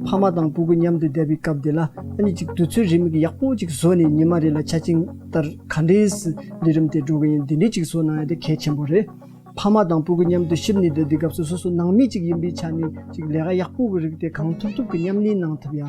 ཕ་མ་དང་སྤུ་གུ་མཉམ་དུ་བསྡད་པའི་སྐབས་དེ་ལ་ཨ་ནེ་གཅིག་དུས་ཚོད་རེའི་མིག་ཡག་པོ་གཅིག་བཟོ་ནས་ཉི་མ་རེ་ལ་ཆ་བྱིངས་ལྟར་ག་འདྲའི་སུ་ལས་རིམ་དེ་འགྲོ་གི་ཡིན་འདི་འདྲའི་གཅིག་བཟོ་གནང་ཡ་དེ་གལ་ཆེན་པོ་རེད། ཕ་མ་དང་སྤུ་གུ་མཉམ་དུ་ཤི་ནས་བསྡད་དུས་སྐབས་སུ་སོ་སོ་ནང་མི་གཅིག་ཡིན་པའི་ཆ་ནས་ཅིག་ལས་ཀ་ཡག་པོ་གི་རིགས་དེ་གང་ཐུབ་ཐུབ་ཀྱིས་མཉམ་གནས་གནང་ཐུབ་ཡ།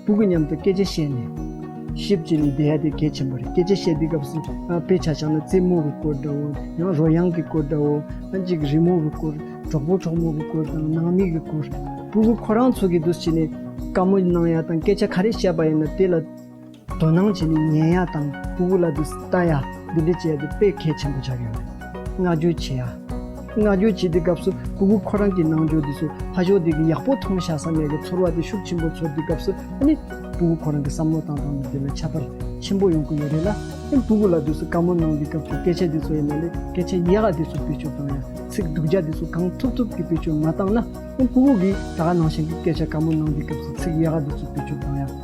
སྤུ་གུ་མཉམ་དུ་སྐད་ཆ་བཤད་ནས། ཞིབ་ཅིག་ནི་དེ་ཧ་ཏི་གལ་ཆེན་པོ་རེད་སྐད་ཆ་བཤད་དུས་སྐབས་སུ་དཔེ་ཆ་ཆགས་ན་རྩེད་མོ་བའི་སྐོར་འདྲ་བོ་ཡང་རོལ་དབྱངས་ཀྱི་སྐོར་འདྲ་བོ་ཡང་གཅིག་རི་མོ་བའི་སྐོར་གྲོགས་པོ་གྲོགས་མོ་བའི་སྐོར་དང་ནང་མི་གི་སྐོར། སྤུ་གུ་ཁོ་རང་ཚོ་གི་འདུ་བྱེད་ནི། བཀའ་མོལ་གནང་ཡ་དང་སྐད་ཆ་ག་རེ་བཤད་པ་ཡིན་ན་དེ་ལ། དོ་སྣང་བྱས་ནས་ཉན་ཡ་དང་ཧུ་ཧུ་ལ་དུ་ལྟ་ཡ་འདི་འདྲ་བྱས་ཏེ་དཔེ་གལ་ཆེན་པོ་ཆགས་ཡོད་རེད། བསྔགས་བརྗོད་བྱེད་ཡ། བསྔགས་བརྗོད་བྱེད་པའི་སྐབས་སུ་ཧུ་ཧུ་ཁོ་རང་གི་ནང་འཇོག་དེ་སུ་ཧ་ཞོག་དེ་གི་ཡག་པོ་མཐོང་བཞག་ས་མེད་གི་ཚོར་བ་དེ་ཤུགས་ཆེན་པོ་ཚོར་དེ་སྐབས་སུ་ཨ་ནི་ཧུ་ཧུ་ཁོ་རང་གི་བསམ་བློ་བཏང་བཏང་ནས་དེ་ལ་ཁྱད་པར་ཆེན་པོ་ཡོང་གི་ཡོད་རེད་ལ་ཨེ་ཧུ་ཧུ་ལ་དུ་སུ་དཀའ་མོ་གནང་དེ་སྐབས་སུ་སྐད་ཆ་དེ་ཚོ་ཡིན་ན་ལས་སྐད་ཆ་ཡག་ཡག་དེ་སུ་བེད་སྤྱོད་བཏང་ཡ་ཚིག་སྡུག་རྒྱ་དེ་སུ་གང་ཐུབ་ཐུབ་གི་བེད་སྤྱོད་མ་བཏང་ན་ཨེ་ཧུ་ཧུ་གིས་ད་ག་ནང་བཞིན་གི་སྐད་ཆ་དཀའ་མོ་གནང་དེ་སྐབས་སུ་ཚིག་ཡག་ཡག་དེ་སུ་བེད་སྤྱོད་བཏང་ཡ།